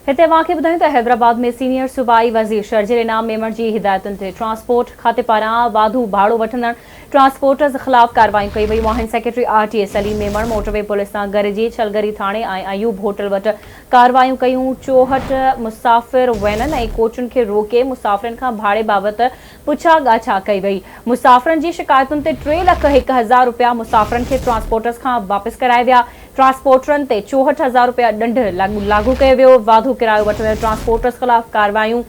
هتي اوهان کي ٻڌايون ته حيدرآباد ۾ سينيئر صوبائي وزير شرجيل انعام ميمڻ جي هدايتن تي ٽرانسپورٽ کاتي پاران واڌو ڀاڙو وٺندڙ ٽرانسپورٽرز خلاف ڪارروايون ڪيون ويون آهن secretary R T A Saleem Memon motorway police سان گڏجي ڇلگري ٿاڻي ۽ ايوب هوٽل وٽ ڪارروايون ڪيون چوهٺ مسافر وينن ۽ ڪوچن کي روڪي مسافرن کان ڀاڙي بابت پڇا ڳاڇا ڪئي وئي. مسافرن جي شڪايتن تي ٽي لک هڪ هزار رپيا مسافرن کي ٽرانسپورٽرز کان واپس ڪرائي ويا. ٽرانسپورٽرن تي چوهٺ هزار رپيا ڏنڊ لاڳو ڪيو ويو. واڌو ڪرايو وٺندڙ ٽرانسپورٽرز خلاف ڪارروايون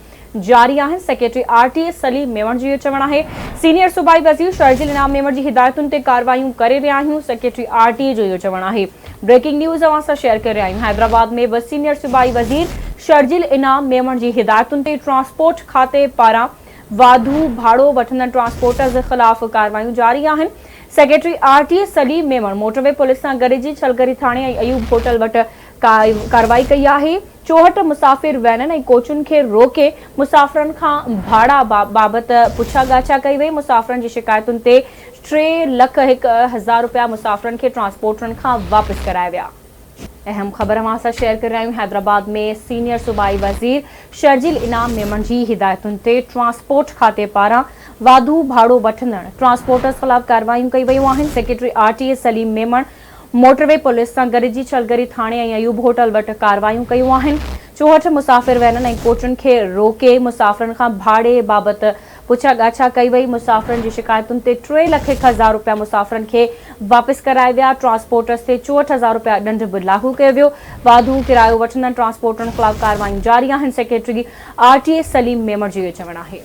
جاري آهن. Secretary R T A Saleem Memon جو اهو چوڻ آهي. سينيئر صوبائي وزير شرجيل انعام ميوڻ جي هدايتن تي ڪارروايون ڪري رهيا آهيون. سيڪريٽري آر ٽي اي جو اهو چوڻ آهي. بريڪنگ نيوز اوهان سان شيئر ڪري رهيا آهيون حيدرآباد ۾ به سينيئر صوبائي وزير شرجيل انعام ميمڻ جي هدايتن تي ٽرانسپورٽ کاتي پاران واڌو ڀاڙو وٺندڙ ٽرانسپورٽرز خلاف ڪارروايون جاري آهن secretary R T A Saleem Memon motorway police سان گڏجي ڇلگري ٿاڻي ۽ ايوب هوٽل وٽ ڪارروائي ڪئي آهي چوهٺ مسافر وينن ۽ ڪوچن کي روڪي مسافرن کان ڀاڙا بابت پڇا ڳاڇا ڪئي وئي مسافرن جي شڪايتن تي ٽي لک هڪ هزار رپيا مسافرن کي ٽرانسپورٽرن کان واپس ڪرايا ويا. اهم خبر اوهان سان شيئر ڪري رهيا آهيون حيدرآباد ۾ سينيئر صوبائي وزير شرجيل انعام ميمڻ جي هدايتن تي ٽرانسپورٽ کاتي پاران واڌو ڀاڙو وٺندڙ ٽرانسپورٽرز خلاف ڪارروائيون ڪيون ويون آهن secretary R T A Saleem Memon motorway police سان گڏجي ڇلگري ٿاڻي ۽ ايوب هوٽل وٽ ڪارروائيون ڪيون آهن چوهٺ مسافر وينن ۽ ڪوچن کي روڪي مسافرن کان ڀاڙي بابت پڇا ڳاڇا ڪئي وئي، مسافرن جي شڪايتن تي ٽي لک هڪ هزار رپيا مسافرن کي واپس ڪرائي ويا، ٽرانسپورٽرز تي چوهٺ هزار رپيا ڏنڊ به لاڳو ڪيو ويو، واڌو ڪرايو وٺندڙ ٽرانسپورٽرن خلاف ڪارروايون جاري آهن، secretary R T A Saleem Memon جو اهو چوڻ آهي.